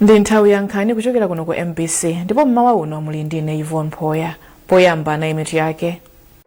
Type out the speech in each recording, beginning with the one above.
ndi nthawi ya nkhani kuchokera kuno ku mbc ndipo mmawa uno muli ndine yvonne phoya poyamba nayi mitu yake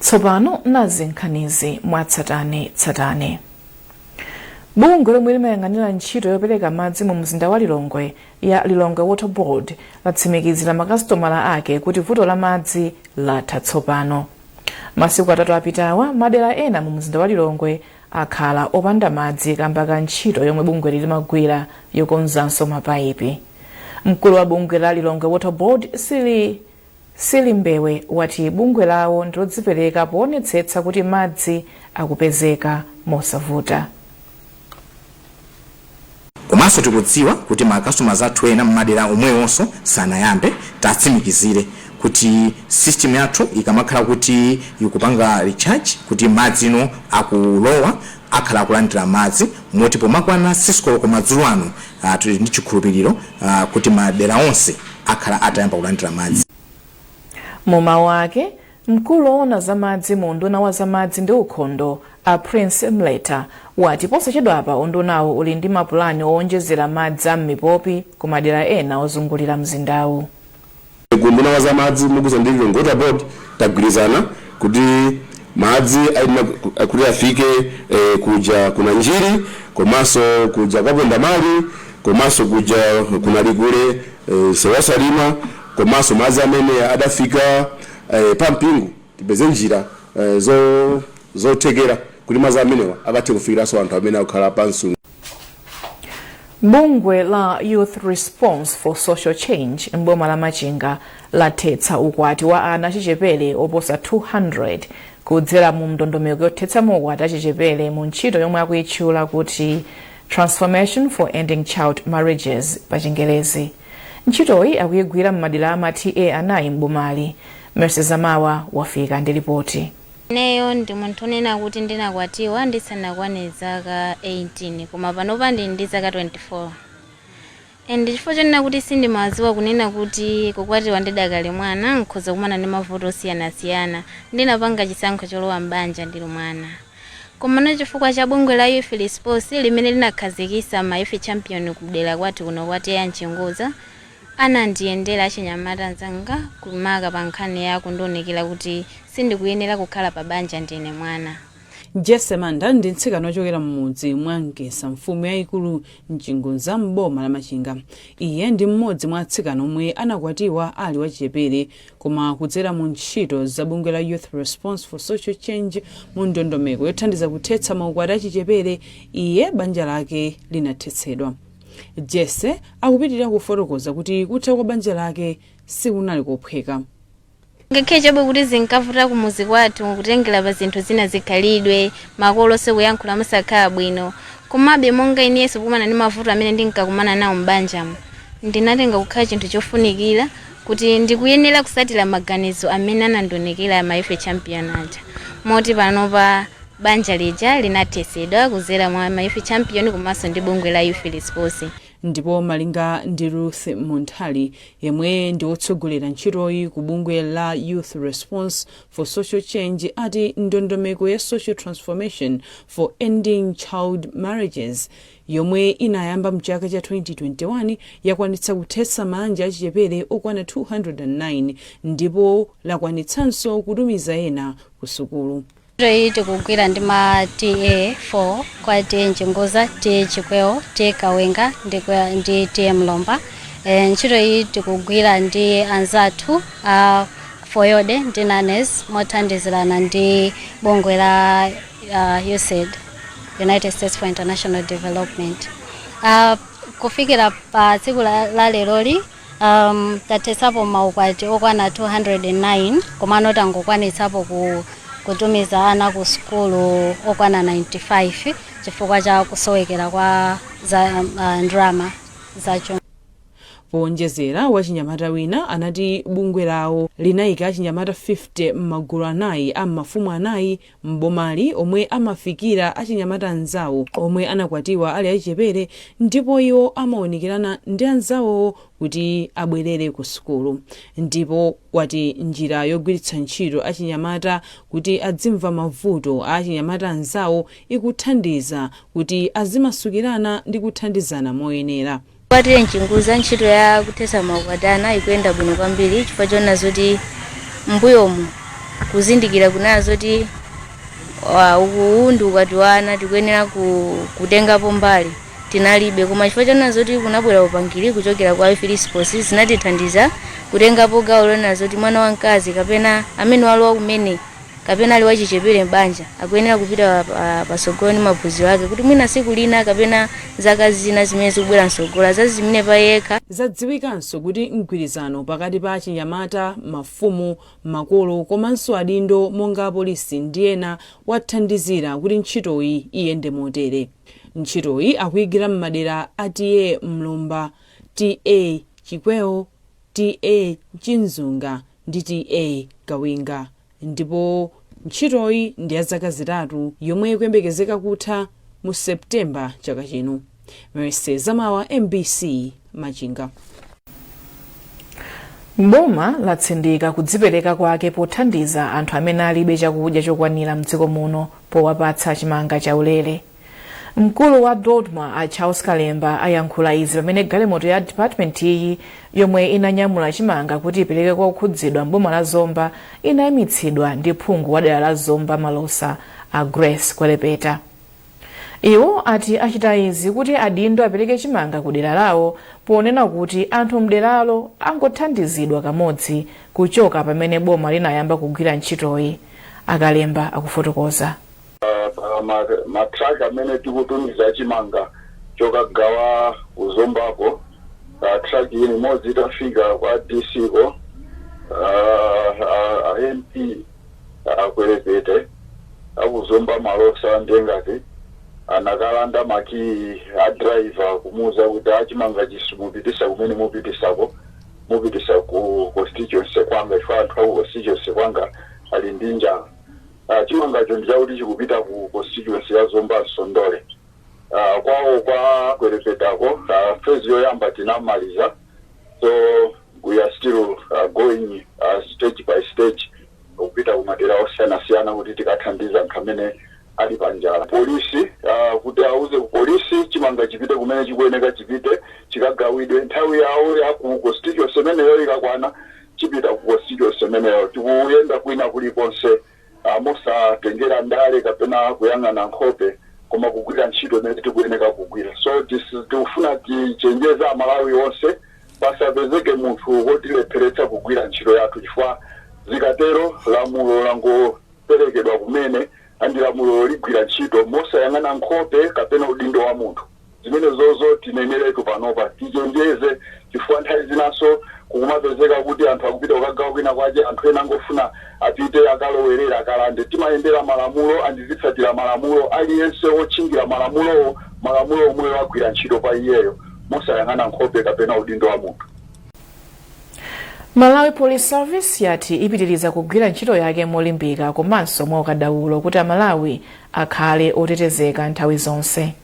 tsopano nazi nkhanizi mwatsatane tsatane bungwe lomwe limayang'anira ntchito yopereka madzi mu mzinda wa lilongwe ya lilongwe water board latsimikizira makasitomala ake kuti vuto la madzi latha tsopano masiku atatu apitawa madera ena mu mzinda wa lilongwe akhala opanda madzi kamba ka ntchito yomwe bungweli limagwira yokonzanso mapayipi mkulu wa bungwe la lilongwe water board sili Silly Mbewe wati bungwe lawo ndilodzipereka poonetsetsa kuti madzi akupezeka mosavuta. komanso tikudziwa kuti ma customers athu ena mmadera omwewonso sanayambe tatsimikizire kuti system yathu ikamakhala kuti ikupanga recharge kuti madzi ano akulowa akhala akulandira madzi moti pomakwana 6 koloko madzulo ano tili ndi chikhulupiliro kuti madera onse akhala atayamba kulandira madzi. Mu mawu ake, mkulu owona za madzi mu unduna wa za madzi ndi ukhondo a Prince Mleta wati posachedwapa undunawu uli ndi mapulani owonjezera madzi a m'mipopi ku madera ena ozungulira mzindawu. Ku unduna wa za madzi mogwirizana ndi Lilongwe Water Board tagwirizana kuti madzi ayenera kuti afike kuja ku Nanjiri komanso kuja kwa Pondamali komanso kuja ku Nalikule, msewu wa Salima komanso madzi amene adafika pa Mpingu tipeze njira zothekera kuti madzi amenewa akathe kufikiranso anthu amene akukhala pa Nsu. bungwe la youth response for social change m'boma la machinga lathetsa ukwati wa ana achichepere oposa 200 kudzera mu ndondomeko yothetsa maukwati achichepere mu ntchito yomwe akuyitchula kuti transformation for ending child marriages pa chingelezi ntchitoyi akuyigwira m'madera ama ta anayi m'bomali mercy zamawa wafika ndi lipoti Ineyo ndi munthu onena kuti ndinakwatiwa ndisanakwane zaka 18 koma panopa ndili ndi zaka 24 chifukwa chonena kuti sindimaziwa kunena kuti kukwatiwa ndidakali mwana nkhoza kumana ndi mavuto osiyanasiyana ndinapanga chisankho cholowa m'banja ndili mwana komano chifukwa cha bungwe la Youth Response limene linakhazikisa ma Youth Champion ku dera kwathu kuno kwa TA Nchinguza Anandiyendera achinyamata anzanga makamaka pa nkhani ya kundiunikira kuti sindikuyenera kukhala pa banja ndine mwana. Jesse Manda ndi mtsikana wochokera m'mudzi mwa Nkesa mfumu yaikulu Mchinguza m'boma la Machinga. Iye ndi m'modzi mwa atsikana omwe anakwatiwa ali wachichepere koma kudzera mu ntchito za bungwe la Youth Response for Social Change mu ndondomeko yothandiza kuthetsa maukwati achichepere iye banja lake linathetsedwa. Jesse akupitirira kufotokoza kuti kutha kwa banja lake sikunali kophweka. ngakhale chabe kuti zinkavuta kumuzi kwathu kutengera pa zinthu zina zikhalidwe makolo sikuyankhula musakhala bwino komabe monga inenso pokumana ndi mavuto amene ndinkakumana nawo m'banjamo ndinatenga kukhala chinthu chofunikira kuti ndikuyenera kusatira maganizo amene anandiunikira ma youth champion aja moti panopa Banja lija linathetsedwa kudzera mwa ma Youth Champion komanso ndi bungwe la Youth Response. Ndipo malinga ndi Ruth Munthali, yemwe ndi wotsogolera ntchitoyi ku bungwe la Youth Response for Social Change ati ndondomeko ya Social Transformation for Ending Child Marriages yomwe inayamba mchaka cha 2021 yakwanitsa kuthetsa maanja achichepere okwana 209 ndipo lakwanitsanso kutumiza ena kusukulu. ntchito iyi tikugwira ndi ma ta 4 kwa ta mchinguza ta chikweo ta kawenga ndi kwa- ndi ta mlomba e, ntchito iyi tikugwira ndi anzathu a foyode ndi nanesi mothandizirana ndi bungwe la uh, usaid united states for international development uh, kufikira pa tsiku la, la leroli Um, tathesapo maukwati okwana 209 komano tangokwanitsapo ku kutumiza ana ku sukulu okwana 95 chifukwa cha kusowekera kwa za uh, ndalama za chuma powonjezera wachinyamata wina anati bungwe lawo linayika achinyamata 50 m'magulu anayi a m'mafumu anayi m'bomali omwe amafikira achinyamata anzawo omwe anakwatiwa ali achichepere ndipo iwo amaunikirana ndi anzawowo kuti abwerere ku sukulu ndipo wati njira yogwiritsa ntchito achinyamata kuti adzimva mavuto a achinyamata anzawo ikuthandiza kuti azimasukirana ndi kuthandizana moyenera. kwa ta mchinguza ntchito ya kuthetsa maukwati a ana ikuyenda bwino kwambiri chifukwa choona zoti mbuyomu kuzindikira kunena zoti wa- uwu ndi ukwati wa ana tikuyenera ku, kutengapo mbali tinalibe koma chifukwa choona zoti kunabwera upangiri kuchokera kwa youth response zinatithandiza kutengapo gawo loona zoti mwana wamkazi kapena amene walowa kumene kapena ali wachichepere m'banja, akuyenera kupita patsogolo ndi maphunziro ake kuti mwina tsiku lina kapena zaka zina zimene zikubwera mtsogolo azaziimire pa yekha. Zadziwikanso kuti mgwirizano pakati pa achinyamata, mafumu, makolo komanso adindo monga apolisi ndi ena wathandizira kuti ntchitoyi iyende motere. Ntchitoyi akuigwira m'madera a TA Mlomba, TA Chikwewo, TA Nchinguza ndi TA Kawinga ndipo ntchitoyi ndi ya zaka zitatu yomwe ikuyembekezeka kutha mu September chaka chino. Mercy Zamawa, mbc, Machinga. Boma latsindika kudzipereka kwake pothandiza anthu amene alibe chakudya chokwanira mdziko muno powapatsa chimanga chaulere. mkulu wa dodma a charles kalemba ayankhula izi pamene galimoto ya dipatimenti iyi yomwe inanyamula chimanga kuti ipereke kwa okhudzidwa mboma la zomba inayimitsidwa ndi phungu wa dera la zomba malosa a grace kwelepeta iwo ati achita izi kuti adindo apereke chimanga ku dera lawo ponena kuti anthu mderalo angothandizidwa kamodzi kuchoka pamene boma linayamba kugwira ntchitoyi a kalemba akufotokoza ma truck amene tikutumiza chimanga chokagawa ku Zombako truck ina imodzi itafika kwa DC ko a MP a Kwelepeta aku Zomba malosa nde ngati anakalanda makiyi a driver kumuuza kuti a chimangachi simupititsa kumene mupititsako mupititsa ku constituency kwanga chifukwa anthu aku constituency kwanga ali ndi njala Uh, chimangacho ndichakuti chikupita ku constituency ya Zomba Nsondole. Uh, kwawo kwa kwelepetako uh, phase yoyamba tinamaliza so we are still uh, going uh, stage by stage kupita kumadera osiyanasiyana kuti tikathandize anthu amene ali panjala polisi uh, kuti auze kupolisi chimanga chipite kumene chikuyeneka chipite chikagawidwe nthawi yawo ya ku constituency imeneyo ikakwana chipita ku constituency imeneyo, tikuyenda kwina kulikonse mosatengera ndale kapena kuyang'ana nkhope koma kugwira ntchito imene tikuyeneka kugwira. So tikufuna tichenjeze Amalawi onse pasapezeke munthu wotilepheretsa kugwira ntchito yathu chifukwa zikatero lamulo langoperekedwa kumene and lamulo ligwira ntchito mosayang'ana nkhope kapena udindo wa munthu. Zimenezozo tineneretu panopa. Tichenjeze chifukwa nthawi zinanso kukumapezeka kuti anthu akupita kukagawa kwina kwake, anthu ena angofuna apite akalowerere, akalande. Timayendera malamulo and tizitsatira malamulo. Aliyense wotchingira malamulowo, malamulo omwewo agwira ntchito pa iyeyo mosayang'ana nkhope kapena udindo wa munthu. Malawi Police Service yati ipitiriza kugwira ntchito yake molimbika komanso mwaukadaulo kuti Amalawi akhale otetezeka nthawi zonse.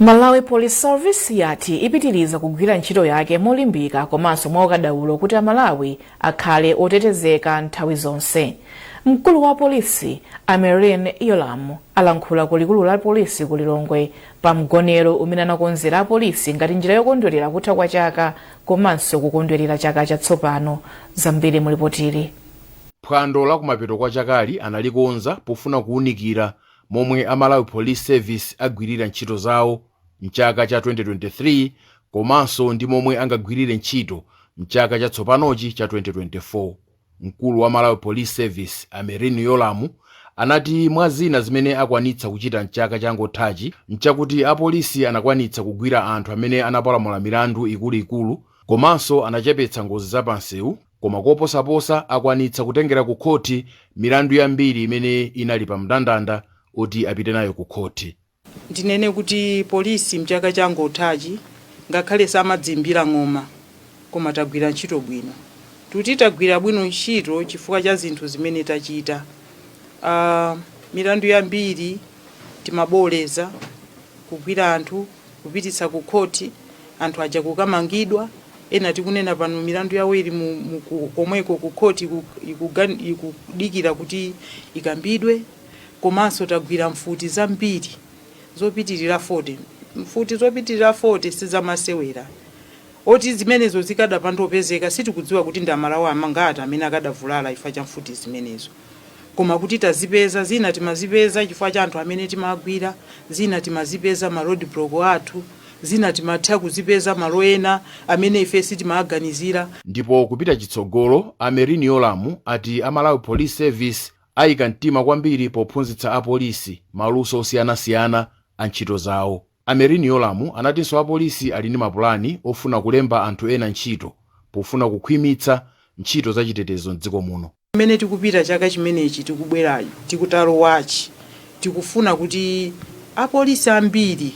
malawi police service yati ipitiriza kugwira ntchito yake molimbika komanso mwaukadaulo kuti amalawi akhale otetezeka nthawi zonse mkulu wa polisi a merlyne yolamu alankhula ku likulu la polisi ku lilongwe pa mgonero umene anakonzera apolisi ngati njira yokondwerera kutha kwa chaka komanso kukondwerera chaka chatsopano zambiri mulipotili Phwando la kumapeto kwa chakali analikonza pofuna kuunikira momwe a Malawi Police Service agwirira ntchito zawo m'chaka cha 2023 komanso ndi momwe angagwirire ntchito m'chaka chatsopanochi cha 2024. Mkulu wa Malawi Police Service a Merlyne Yolamu anati mwa zina zimene akwanitsa kuchita m'chaka changothachi nchakuti apolisi anakwanitsa kugwira anthu amene anapalamula milandu ikuluikulu komanso anachepetsa ngozi zapamsewu Koma koposaposa akwanitsa kutengera ku khothi milandu yambiri imene inali pa mndandanda oti apite nayo ku khothi. Ndinene kuti polisi mchaka changothachi ngakhale samadziimbira ng'oma koma tagwira ntchito bwino. Tikuti tagwira bwino ntchito chifukwa cha zinthu zimene tachita. Aaa milandu yambiri timabooleza kugwira anthu. kupititsa ku court anthu aja kukamangidwa ena tikunena pano milandu yawo ili mu, mu ku, komweko ku court iku- ikugan- ikudikira kuti ikambidwe komanso tagwira mfuti zambiri zopitirira 40 mfuti zopitirira 40 sizamasewera zoti zimenezo zikadapanda kupezeka sitikudziwa kuti ndi amalawi angati amene akadavulala chifukwa cha mfuti zimenezo Koma kuti tazipeza, zina timazipeza chifukwa cha anthu amene timawagwira, zina timazipeza m'ma road block athu, zina timatha kuzipeza malo ena amene ife sitimawaganizira. Ndipo kupita chitsogolo, a Merlyne Yolamu ati a Malawi Police Service ayika mtima kwambiri pophunzitsa apolisi maluso osiyanasiyana a ntchito zawo. A Merlyne Yolamu anatinso apolisi ali ndi mapulani ofuna kulemba anthu ena ntchito pofuna kukhwimitsa ntchito za chitetezo m'dziko muno. Mmene tikupita chaka chimenechi tikubwerachi, tikutalowachi, tikufuna kuti apolisi ambiri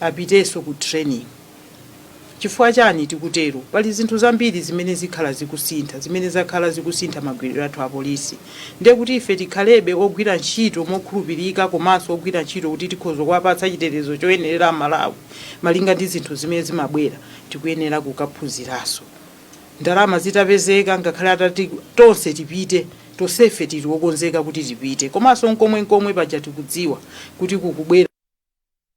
apitenso ku training. Chifukwa chani tikutero? Pali zinthu zambiri zimene zikhala zikusintha, zimene zakhala zikusintha magwiriro athu a polisi. Ndiye kuti ife tikhalebe ogwira ntchito mokhulupirika komanso ogwira ntchito kuti tikhoza kuwapatsa chitetezo choyenerera a Malawi malinga ndi zinthu zimene zimabwera, tikuyenera kukaphunziranso. Ndalama zitapezeka ngakhale atati tonse tipite, tonsefe tili okonzeka kuti tipite. Komanso n'komwe n'komwe paja tikudziwa kuti kukubwera.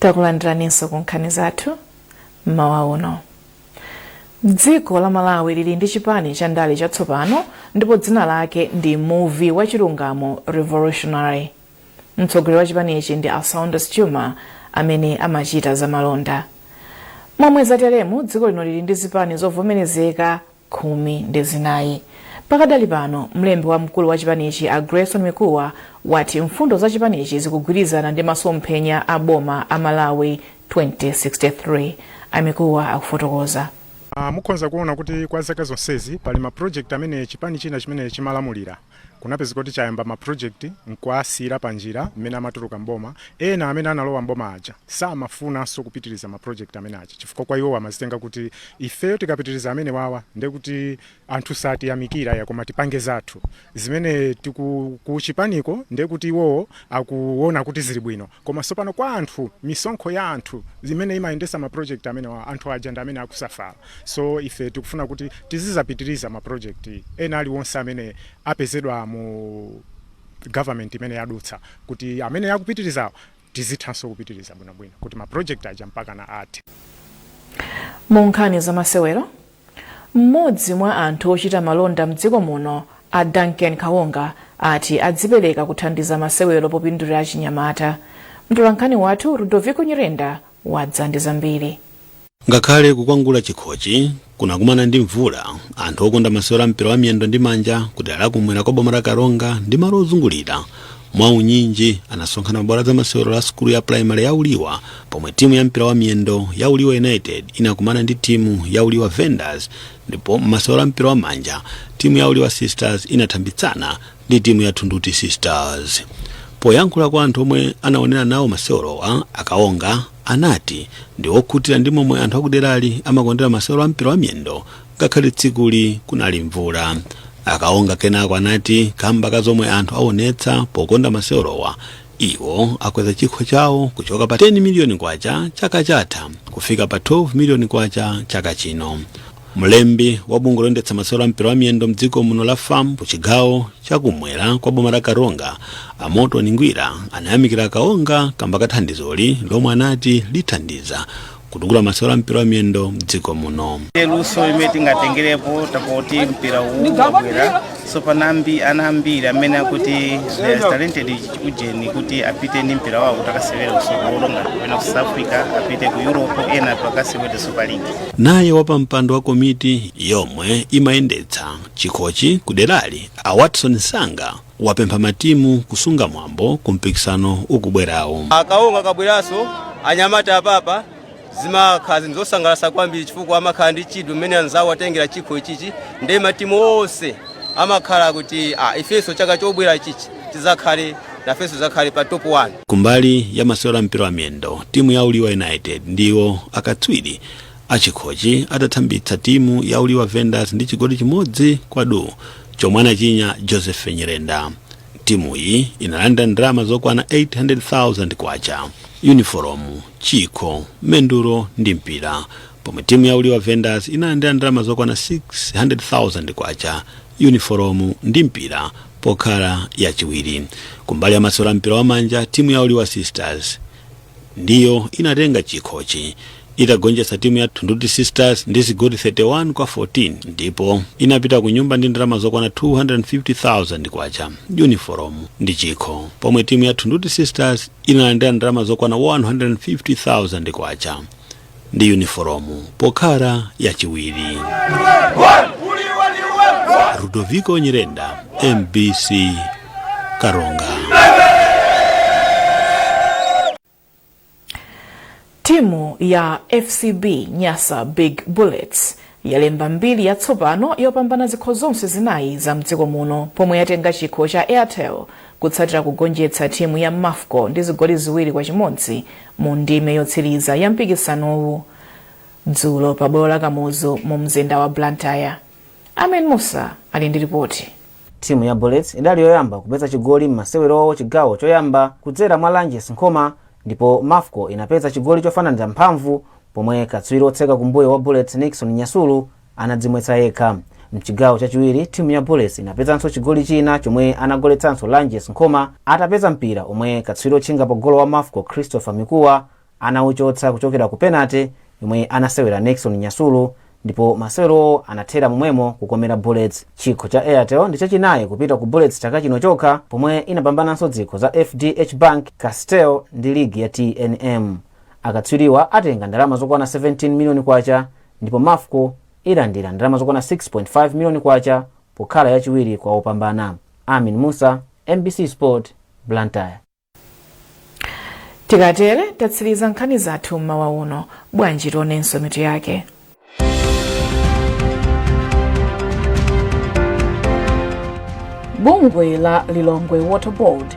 takulandiraninso ku nkhani zathu mmawa uno dziko la malawi lili ndi chipani cha ndale chatsopano ndipo dzina lake ndi muvi wa chilungamo revolutionary mtsogoleri wa chipanichi ndi a saunders juma amene amachita zamalonda momwe zateremu dziko lino lili ndi zipani zovomerezeka khumi ndi zinayi pakadali pano mlembi wamkulu wa chipanichi a grayson mikuwa wati mfundo za chipanichi zikugwirizana ndi masomphenya a boma a malawi 2063 a mikuwa akufotokoza Ah, mukhonza kuona kuti kwa zaka zonsezi pali ma project amene chipani china chimene chimalamulira kunapezeka kuti chayamba ma project nkuwasiyira pa njira mmene amatuluka mboma ena amene analowa mboma aja samafunanso kupitiriza ma project amene aja chifukwa kwa iwowo amazitenga kuti ifeyo tikapitiriza amenewawa ndiye kuti anthu satiyamikira ayi koma tipange zathu zimene tiku- ku chipaniko ndiye kuti iwowo akuona kuti zili bwino Koma tsopano kwa anthu, misonkho ya anthu imene imayendetsa ma project amenewa, anthu aja ndi amene akusafala. So ife tikufuna kuti tizizapitiriza ma project ena aliwonse amene apezedwa mu government imene yadutsa kuti amene akupitirizawo tizithanso kupitiriza bwinobwino kuti ma project aja mpakana athe. Mu nkhani zamasewero, M'modzi mwa anthu ochita malonda mdziko muno a Duncan Kawonga ati adzipereka kuthandiza masewero popindulira achinyamata. Mtolankhani wathu Rudoviko Nyirenda wadza ndi zambiri. Ngakhale kukwangula chikhochi kunakumana ndi mvula, anthu okonda masewero a mpira wa miyendo ndi manja ku dera la kumwera kwa boma la Karonga ndi malo ozungulira mwaunyinji anasonkhana pabwalo la zamasewero la sukulu ya pulaimale ya uliwa pomwe timu ya mpira wa miyendo ya uliwa united inakumana ndi timu ya uliwa vendors ndipo m'masewero a mpira wa manja timu ya uliwa sisters inathambitsana ndi timu ya thunduti sisters poyankhula kwa anthu omwe anaonera nawo masewerowa a kawonga anati ndi okhutira ndi momwe anthu akuderali amakondera masewero a mpira wa miyendo ngakhale tsikuli kunali mvula akaonga kenako anati kamba ka zomwe anthu aonetsa pokonda masewerowa iwo akweza chikho chawo kuchoka pa 10 miliyoni kwacha chaka chatha kufika pa 12 miliyoni kwacha chaka chino mlembi wa bungwe loyendetsa masewero a mpira wa miyendo mdziko muno la fam ku chigawo chakumwera kwa boma la karonga amoto ningwira anayamikira kaonga kamba kathandizoli lomwe anati lithandiza kutukula masewero a mpira wa miyendo mdziko muno luso limene tingatengerepo tapoti mpira uwu wabwera sopano ndi ana ambiri amene akuti they are talented ujeni kuti apite ndi mpira wawo kuti akasewere kusogolo ngati kapena ku south africa apite ku europe ena tu akasewere super league naye wapampando wa komiti yomwe imayendetsa chikhochi kuderali a watson sanga wapempha matimu kusunga mwambo ku mpikisano ukubwerawu. A Kaonga akabweranso, anyamata apapa zimakhala zinthu zosangalatsa kwambiri chifukwa amakhala ndi chidwi mmene anzawo atengera chikho ichichi ndiye matimu onse amakhala kuti ah, ifenso chaka chobwera ichichi tidzakhale nafenso tidzakhale pa top 1. Kumbali ya masewero a mpira wa miyendo, timu ya Uliwa United ndiwo akatswiri a chikhochi atathambitsa timu ya Uliwa Vendors ndi chigoli chimodzi kwa duu chomwe anachinya Joseph Nyirenda. Timuyi inalandira ndalama zokwana K800,000, yunifolomu, chikho, mendulo ndi mpira pomwe timu ya Uliwa Vendors inalandira ndalama zokwana K600,000, yunifolomu ndi mpira pokhala yachiwiri. Kumbali ya masewero a mpira wamanja, timu ya Uliwa Sisters ndiyo inatenga chikhochi itagonjetsa timu ya Thunduti Sisters ndi zigoli 31 kwa 14 ndipo inapita ku nyumba ndi ndalama zokwana 250,000 kwacha uniform ndi chikho pomwe timu ya Thunduti Sisters inalandira ndalama zokwana 150,000 kwacha ndi yunifolomu pokhala yachiwiri ludoviko nyirenda mbc karonga timu ya fcb nyasa big bullets yalemba mbiri yatsopano yopambana zikho zonse zinayi za mdziko muno pomwe yatenga chikho cha airtel kutsatira kugonjetsa timu ya mafco ndi zigoli ziwiri kwa chimodzi Mu ndime yotsiriza ya mpikisanowu dzulo pa bwalo la Kamuzu mu mzinda wa Blantyre, Amen Musa ali ndi lipoti. Timu ya Bullets idali yoyamba kupeza chigoli m'masewerowo chigawo choyamba kudzera mwa Lanjes Nkhoma ndipo Mafco inapeza chigoli chofananira mphamvu pomwe katswiri otseka kumbuyo wa Bullets Nickson Nyasulu anadzimwetsa yekha mchigawo chachiwiri timu ya bullets inapezanso chigoli china chomwe anagoletsanso lanjes nkhoma atapeza mpira omwe katswiri otchinga pa golo wa mafco christopher mikuwa anauchotsa kuchokera ku penate yomwe anasewera nixon nyasulu ndipo masewerowo anathera momwemo kukomera bullets chikho cha airtel ndi chachinayi kupita ku bullets chaka chino chokha pomwe inapambananso zikho za fdh bank castel ndi ligi ya tnm akatswiriwa atenga ndalama zokwana 17 miliyoni kwacha ndipo Mafco ilandira ndalama zokwana 6.5 miliyoni kwacha pokhala yachiwiri kwa opambana. Amin Musa, mbc Sport, Blantyre. tikatere tatsiriza nkhani zathu mmawa uno bwanji tiwonenso mitu yake bungwe la lilongwe water board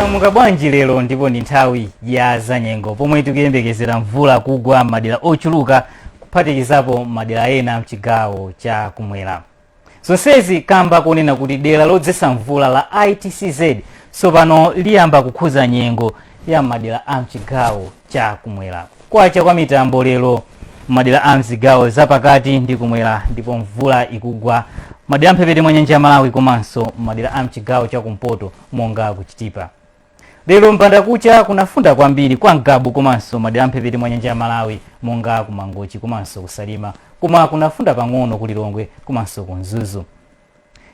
mwadzuka bwanji lero ndipo ndi nthawi ya zanyengo pomwe tikuyembekezera mvula kugwa m'madera ochuluka kuphatikizapo madera ena mchigawo cha kumwera zonsezi kamba kunena kuti dera lodzetsa mvula la itcz tsopano liyamba kukhuza nyengo ya m'madera a mchigawo cha kumwera kwacha kwa mitambo lero m'madera a mzigawo zapakati ndi kumwera ndipo mvula ikugwa madera amphepete mwa nyanja ya malawi komanso m'madera a mchigawo cha kumpoto monga kuchitipa lero mbandakucha kunafunda kwambiri kwa ngabu komanso madera amphepete mwa nyanja ya malawi monga ku mangochi komanso ku salima koma kunafunda pang'ono ku lilongwe komanso ku mzuzu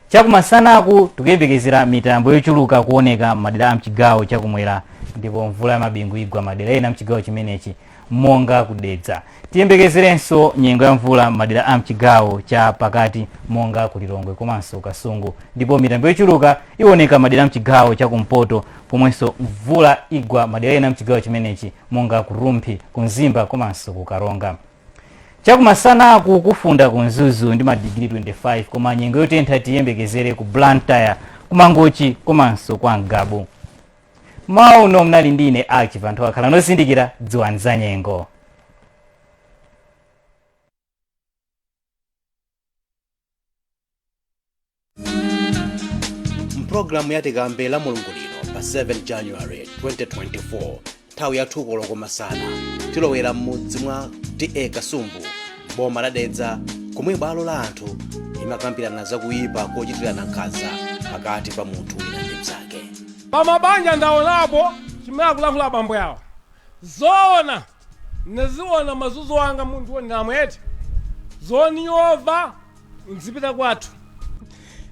chakumasanaku tikuyembekezera mitambo yochuluka kuoneka madera a mchigawo chakumwera ndipo mvula ya mabingu igwa madera ena mchigawo chimenechi monga ku dedza tiyembekezerenso nyengo ya mvula madera a mchigawo cha pakati monga ku lilongwe komanso kasungu ndipo mitambo yochuluka iwoneka madera a mchigawo cha kumpoto pomwenso mvula igwa madera ena mchigawo chimenechi monga ku rumphi ku mzimba komanso ku karonga chakumasanaku kufunda ku mzuzu ndi madigiri 25 koma nyengo yotentha tiyembekezere ku blantyre kumangochi komanso kwa ngabu mmawa uno munali ndi ine aki anthu akhale ozindikira dziwani za nyengo mpulogalamu ya tikambe la mulungu lino pa 7 january 2024 nthawi ya 2 koloko masana tilowera m'mudzi mwa ta kasumbu boma la dedza komwe bwalo la anthu limakambirana za kuyipa kochitirana nkhanza pakati pa munthu wina ndi mnzake Pamabanja ndaonapo chimene akulankhula abambo awa zoona ndaziwona mazunzo anga munthu ndamwe eti zoniyova ndzipita kwathu.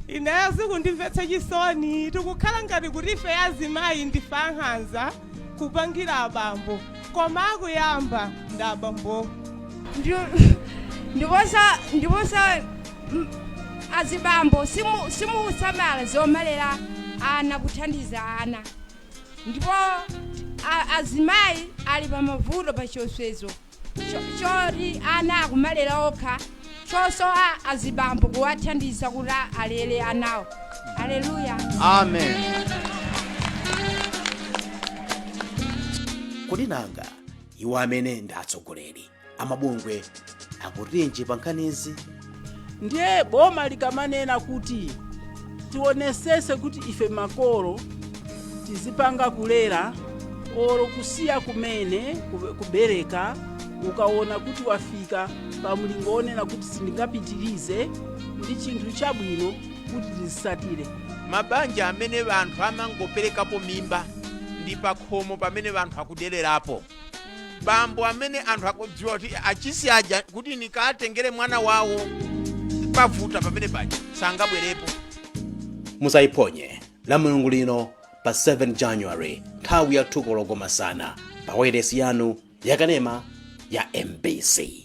Ineyo zikundimvetsa chisoni tikukhala ngati kuti ifeyo azimayi ndife ankhanza kupangira abambo koma akuyamba ndi abambowo. Ndipo sa. azibambo simusamala zomalera ana kuthandiza ana ndipo azimayi ali pamavuto pa chiopsezo choti ana akumalera okha chosowa azibambo kuwathandiza kuti alere anawo aleluya amen kodi nanga iwo amene ndi atsogoleri amabungwe akutinji pa nkhanizi ndiye boma likamanena kuti tionesese kuti ife makolo tizipanga kulera olo kusiya kumene kubereka ukaona kuti wafika pa mlingo wonena kuti sindingapitirize ndi chinthu chabwino kuti tizisatire mabanja amene anthu amangoperekapo mimba ndi pakhomo pamene anthu akudererapo bambo amene anthu akudziwa kuti nchisi yaja kuti nikatengere mwana wawo pavuta pamene paja sangabwerepo musayiphonye lamulungu lino pa 7 january nthawi ya thu koloko masana pa wailesi yanu yakanema ya mbc